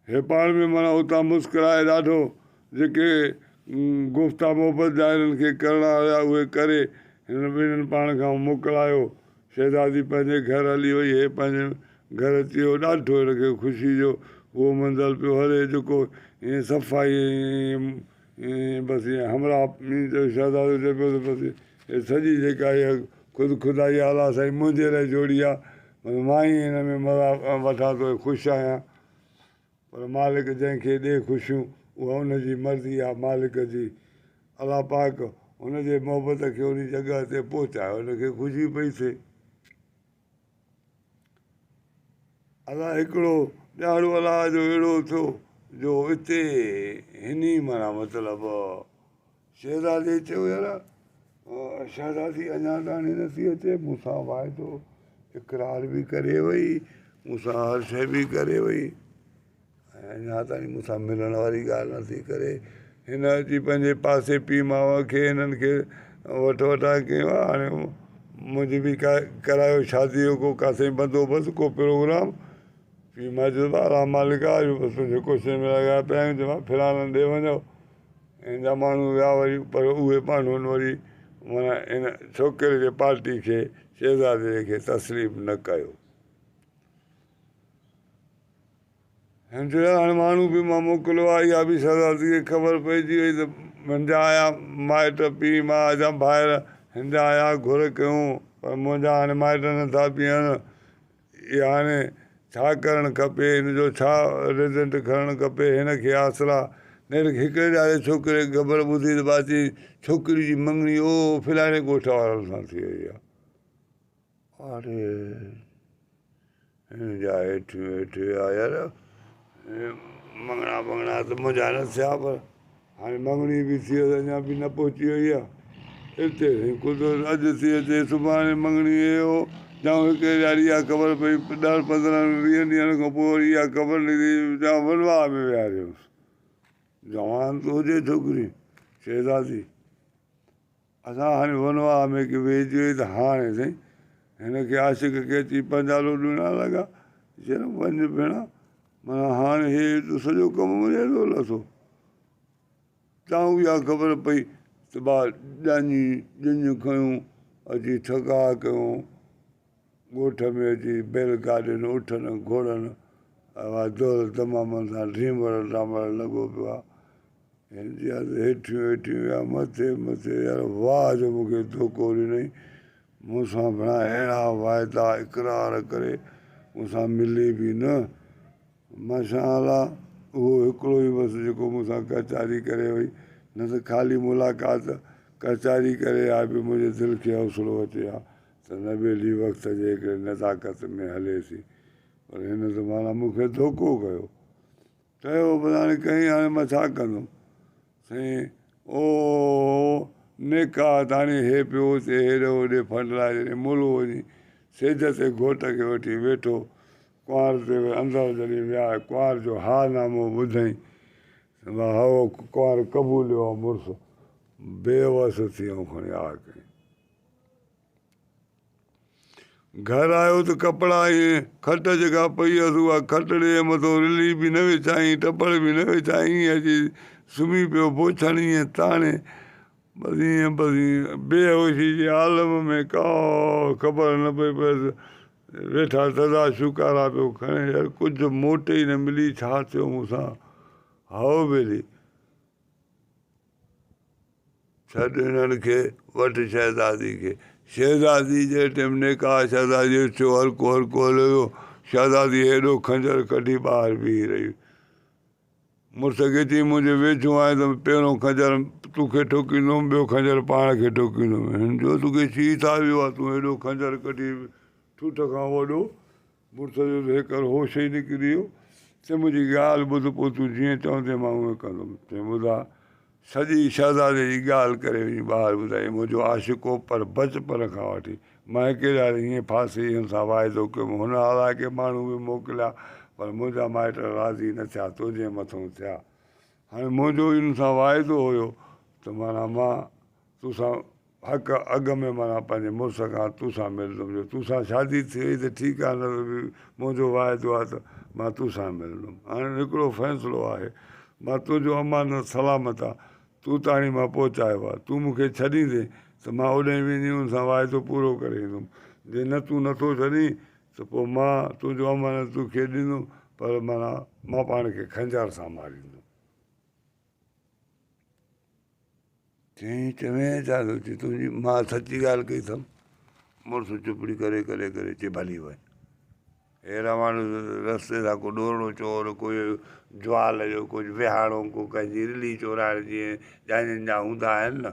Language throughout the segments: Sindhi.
هي پاڻ ۾ معنيٰ اتان مسڪرائي ڏاڍو جيڪي گفتا محبت جا هنن کي ڪرڻا هيا اهي ڪري هنن ٻنهين پاڻ کان موڪلايو. شهزادي پنهنجي گهر هلي وئي. هي پنهنجي گهر اچي ويو. ڏاڍو هن کي خوشي جو اهو منزل پيو هلي جيڪو ائين صفائي ۽ ائين بس ائين همراهه مين جو شهزادو چئي پيو ته بس هي سڄي جيڪا اها خود خدائي آه الا سائين منهنجي لاء جوڙي آهي بس مان ئي هن ۾ مزا وٺان ٿو ۽ خوش آهيان پر مالڪ جنهن کي ڏي خوشيون اها ان جي مرضي آهي مالڪ جي الله پاڪ هن جي محبت کي ان جڳهه تي پهچايو هن کي خوشي پئي ٿئي الاء هڪڙو ڏياڙو الاء جو اهڙو ٿيو جو اتي هني معنيٰ مطلب شهزادي چيو يارا شهزادي اڃا تائين نٿي اچي مون سان واعدو اقرار بي ڪري وئي مون سان هر شي بي ڪري وئي ۽ اڃا تائين مون سان ملڻ واري ڳالهه نه ٿي ڪري هن اچي پنهنجي پاسي پيء ماء کي هنن کي وٺ وٺان ڪيو آهي هاڻي منهنجي به ڪا ڪرايو شادي جو ڪو ڪاسي بندوبست ڪو پروگرام پيء ماء چيو ته الا مالڪ آ اڄ بس تنهنجي ڪوشش ۾ لڳا پيا آهيون جيئن فلاڻن ڏي وڃو هن جا ماڻهو ويا واري پر اهي ماڻهن وري منا هن ڇوڪري جي پارٽي کي شهزادي کي تسليم نه ڪيو هنجڙا هڻ ماڻهو به مان موڪليو آ. اها به شهزاديء کي خبر پئجي وئي ته منهنجا آيا مائٽ، پيء ماء جا ڀائر، هنجا آيا گهر ڪيون، پر منهنجا هاڻي مائٽ نه ٿا پيئن. اي هاڻي ڇا ڪرڻ کپي؟ هن جو ڇا ريزنٽ کڻڻ کپي؟ هن کي آسرا نيٺ هڪڙي ڄاري ڇوڪريء کي خبر ٻڌي ته ٻاجهي ڇوڪري جي مڱڻي او فلاڻي ڳوٺ وارن سان ٿي وئي آ. آري هن جا هيٺ ويٺ ويا يار ۽ مڱڻا ٻڱڻا ته منجهان نه ٿيا پر هاڻي مڱڻي به ٿي ويس اڃان به نه پهچي وئي آ اتي سائين قدرت اڄ ٿي اچي سڀاڻي مڱڻي هي هو جا هڪڙي ڏهاڙي اها خبر پئي ڏهن پندرهن ويهن ڏينهن کان پوء وري اها خبر نڪري جا ولواء ۾ ويهاري هوس جوان ته هجي ڇوڪري شهزادي اسان هاڻي ونواهه ۾ ڪي ويهجي ويئي ته هاڻي سائين هن کي عاشق ڪي اچي پنجالو ڏيڻ لڳا چيائين وڃ ڀيڻا معنيٰ هاڻي هي ايڏو سڄو ڪم مون ايڏو لٿو تان اها خبر پئي ته ٻار ڄاڃي ڄڃ کنيون اچي ٺڪاء ڪيو ڳوٺ ۾ اچي بيل گاڏين، اٺن، گهوڙن واري دور دمامن سان ڊريمڙ ڊامڙ لڳو پيو آ. هن جي حد هيٺيون هيٺيون يا مٿي مٿي يار واهه جو مون کي ڌوڪو ڏنئين. مون سان ڀڻا اهڙا واعدا اقرار ڪري مون سان ملي به نه. ماشاءالله اهو هڪڙو ئي بس جيڪو مون سان ڪهچاري ڪري وئي نه ته خالي ملاقات ڪهچاري ڪري آء به منهنجي دل کي حوصلو اچي آ ته نبيلي وقت جي هڪڙي نزاڪت ۾ هلي ٿي پر هن ته معنيٰ مون کي ڌوڪو ڪيو. ڪيو به هاڻي ڪئين هاڻي مان ڇا ڪندم. سائين او نيڪا تاڻي هي پيو اچي هيڏي هوڏي ڦنڊلائي جڏهن ملو وڃي سيج تي گهوٽ کي وٺي ويٺو ڪنوار تي ويهي اندر جڏهن ويا ڪنوار جو ها نامو ٻڌائين ته مان هئو ڪنوار قبوليو آ مڙس بي وس ٿي آئون کڻي آ ڪئين. گهر آيو ته ڪپڙا ۽ کٽ جيڪا پئي هيس اها کٽ ڏي ۽ مٿو رلي به نه وڇائين ٽپڙ به نه وڇائين ائين اچي سمهي پيو بوڇڻ ائين تاڻي بس ائين بس ائين بي هوشي جي عالم ۾ ڪا خبر نه پئي پيس ويٺا تدا شڪارا پيو کڻي يار ڪجهه موٽ ئي نه ملي ڇا ٿيو مون سان هائو ڀيلي ڇڏ هنن کي، وٺ شهزادي کي. شهزادي جي ٽيم نڪاح شهزادي جو ٿيو، هلڪو هلڪو هليو ويو. شهزادي هيڏو خنجر ڪڍي ٻاهر بيهي رهي. مڙس کي چيائين منهنجي ويجهو آئين ته پهريون خنجر تو کي ٺوڪيندوم ٻيو خنجر پاڻ کي ٺوڪيندوم. هن چيو تو کي ڇي ٿا ويو آ تون هيڏو خنجر ڪڍي ٺوٺ کان وڏو مرتضيء جو هيڪل هوش ئي نڪري ويو، چيائين، منهنجي ڳالهه ٻڌ، پوء تون جيئن چوندين مان اونئين ڪندم. چيائين، ٻڌاء، سڄي شهزادي جي ڳالهه ڪري وڃي ٻاهر ٻڌائين، منهنجو عاشق هو، پر بچپڻ کان وٺي مان هڪي ڏهاڙي هيئن ڦاسي ويم، سان واعدو ڪيم، هن الاء ڪي ماڻهو به موڪليا، پر منهنجا مائٽ راضي نه ٿيا، تنهنجي مٿئون ٿيا. هاڻي منهنجو هن سان واعدو هيو، ته معنيٰ مان. تو سان حق اڳ ۾ معنيٰ پنهنجي مڙس کان تو سان ملندم جو تو سان شادي ٿي وئي ته ٺيڪ آهي نه ته به منهنجو واعدو آهي ته مان تو سان ملندم هاڻي هڪڙو فيصلو آهي مان تنهنجو امانت سلامت آ تو تاڻي مان پهچايو آهي تون مون کي ڇڏيندين ته مان اوڏهين وڃي ان سان واعدو پورو ڪري ايندم جي نه تون نه ٿو ڇڏين ته پوء مان تنهنجو امانت تو کي ڏيندم پر معنيٰ مان پاڻ کي خنجر سان ماريندم. چيائين، چوين ڇا ٿو چي تنهنجي ماء سچي ڳالهه ڪئي اٿم. مڙس چپڙي ڪري ڪري ڪري چي ڀلي وڃ. هي رواڻ رستي سان ڪو ڏورڙو چور ڪو جوال جو ڪجهه ويهاڻو ڪو ڪنهنجي رلي چورائڻ جي جانين جا هوندا آهن نه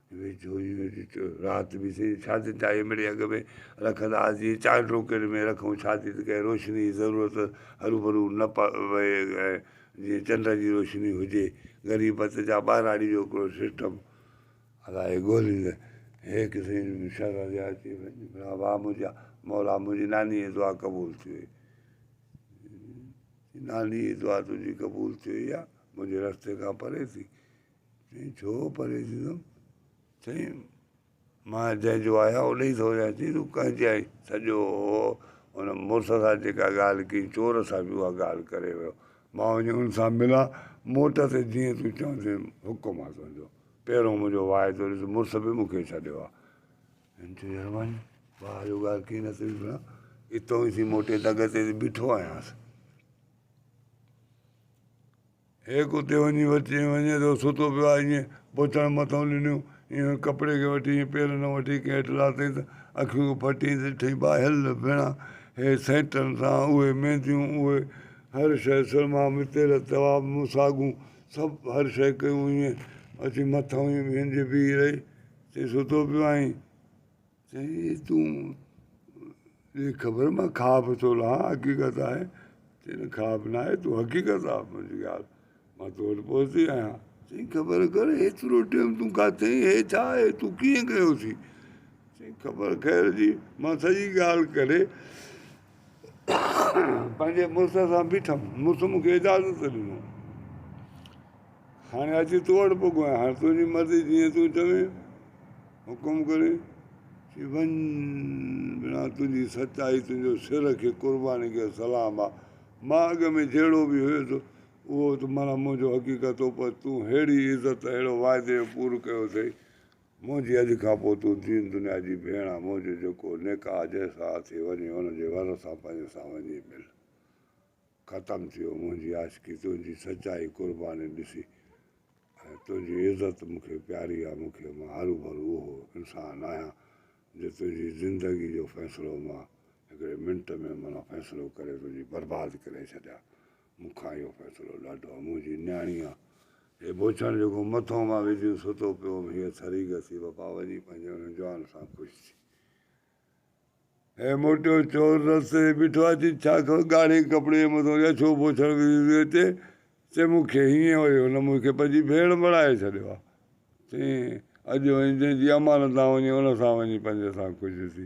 ويجهوئين ڏٺو رات به سين شاديء جا اهي مڙهي اڳ ۾ رکندا ها جيئن چار ٽوڪرين ۾ رکون شادي ته ڪنهن روشنيء جي ضرورت هروڀرو نه پوي ۽ جيئن چنڊ جي روشني هجي. غريبت جا ٻهراڙي جو هڪڙو سسٽم الائي ڳولهيندي هيڪ سين ۾ شرح جي اچي وڃي ڀلا واهه منهنجا مولا منهنجي نانيء جي دعا قبول ٿي وئي نانيء جي دعا تنهنجي قبول ٿي وئي يا منهنجي رستي کان پري ٿي. چيائين ڇو پري ٿيندم سائين مان جنهن جو آهيان ان جي ٿو رهيان چيائين تون ڪنهن جي آهين سڄو ان مڙس سان جيڪا ڳالهه ڪئي چور سان به اها ڳالهه ڪري ويو مان وڃي ان سان ملان موٽ تي جيئن تون چوندي حڪم آهي تنهنجو پهريون منهنجو واء ٿو ڏس مڙس به مون کي ڇڏيو آهي ان تي مهرباني ڀاء جو ڳالهه ڪئي نه ٿي ڏسڻا اتو ئي ٿي موٽي دڳ تي بيٺو آهيانس هيڪ اتي وڃي وچين وڃي ٿو ستو پيو آهي ائين بوچڻ مٿئون ڏنيون ائين ڪپڙي کي وٺي ائين پيرن وٺي ڪنهن هيٺ لاتائين ته اکيون کي ڦٽيائين ته ڏٺائين ٻاهيل ڀيڻا هي سينٽن سان اهي مينديون اهي هر شيء سرما متيل توا مساڳون سڀ هر شيء ڪيون ائين اچي مٿئون ائين ويهنجي بيهي رهي چئي ستو پيو آهين سائين تون جي خبر مان خواب ٿو لهان حقيقت آهي چئي نه خواب ناهي تون حقيقت آ منهنجي ڳالهه مان تو وٽ پهتي آهيان چئي خبر ڪر هيترو ٽيم تون ڪاٿي آهين هي ڇا آهي تون ڪيئن ڪيو اٿي چئي خبر خير جي مان سڄي ڳالهه ڪري پنهنجي مڙس سان بيٺم. مڙس مون کي اجازت ڏنو. هاڻي اچي تو وٽ پڳو آهيان. هاڻي تنهنجي مرضي جيئن تون چوين. حڪم ڪري چي وڃ ڀيڻا تنهنجي سچائي تنهنجو سر کي قرباني کي سلام آ. مان اڳ ۾ جهڙو به هيس اهو ته معنيٰ منهنجو حقيقت هو پر تون ههڙي عزت اهڙو واعدي جو پورو ڪيو اٿئي منهنجي اڄ کان پوء تون دين دنيا جي ڀيڻ آ منهنجو جيڪو نڪاح جنهن سان اٿئي وڃي ان جي ور سان پنهنجي سان وڃي مل ختم ٿي ويو منهنجي عاشقي تنهنجي سچائي قرباني ڏسي ۽ تنهنجي عزت مون کي پياري آ مون کي مان هروڀرو اهو انسان آهيان جو تنهنجي زندگي جو فيصلو مان هڪڙي منٽ ۾ منا فيصلو ڪري تنهنجي برباد ڪري ڇڏيان مون کان اهو فيصلو ڏاڍو آهي، منهنجي نياڻي آ، هي بوڇڻ جيڪو مٿو مان ويجهيون ستو پيو هوم، هيء ٿري گسي وفا وڃي پنهنجي ان جوان سان خوش ٿي. هيء موٽيو چور رستي تي بيٺو آهي، چي ڇا خبر ڳاڙهي ڪپڙي جي مٿو يا ڇو بوڇڻ ويجهيون ٿي اچي، چي مون کي هيئن ويو، هن مون کي پنهنجي ڀيڻ بڻائي ڇڏيو آ، چئين اڄ وڃي جنهن جي امانت آ وڃي ان سان وڃي پنهنجي سان خوش ٿي.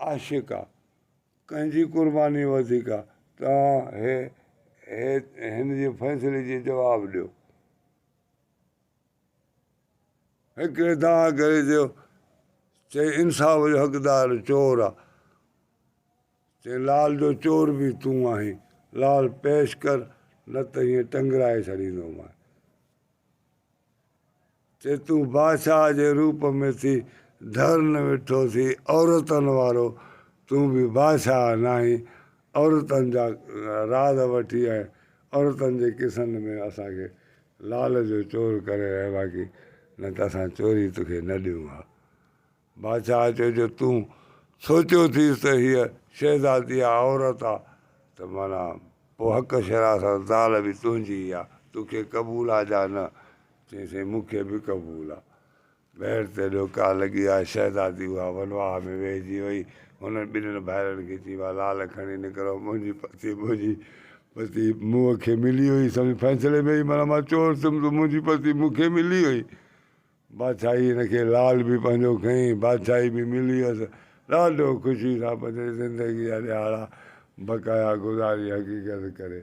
عاشق آ ڪنهن جي قرباني وڌيڪ آ توهان هن جي فيصلي جي جواب ڏيو هڪڙي دانهن ڪري چيو چئي انصاف جو حقدار چور آ چئي لال جو چور به تون آهين لال پيش ڪر نه ته هيئن ٽنگرائي ڇڏيندومانء تي تون بادشاهه جي روپ ۾ ٿي ڌرن ويٺو ٿي عورتن وارو تون به بادشاهه ناهين عورتن جا راز وٺي ۽ عورتن جي قصن ۾ اسان کي لال جو چور ڪري رهي باقي نه ته اسان چوري توکي نه ڏيون ها. بادشاهه چيو جو تون سوچيو ٿيس ته هيء شهزادي آ، عورت آ، ته معنيٰ پوء حق شرع سان زال به تنهنجي ئي آ، تو کي قبول آ جا نه؟ چيائين سائين مون کي به قبول آ. ٻيهر ته ڏوڪا لڳي آ، شهزادي اها ونواهه ۾ ويهجي وئي، هنن ٻنهين ڀائرن کي چيائين وا لال کڻي نڪرو، منهنجي پتي منهنجي پتي مون کي ملي وئي، سمجهه فيصلي ۾ ئي معنيٰ مان چور ٿيم ته منهنجي پتي مون کي ملي وئي. بادشاهي هن کي لال به پنهنجو کئين، بادشاهي به ملي هيس. ڏاڍو خوشي سان پنهنجي زندگي جا ڏهاڙا بقايا گذاري حقيقت ڪري.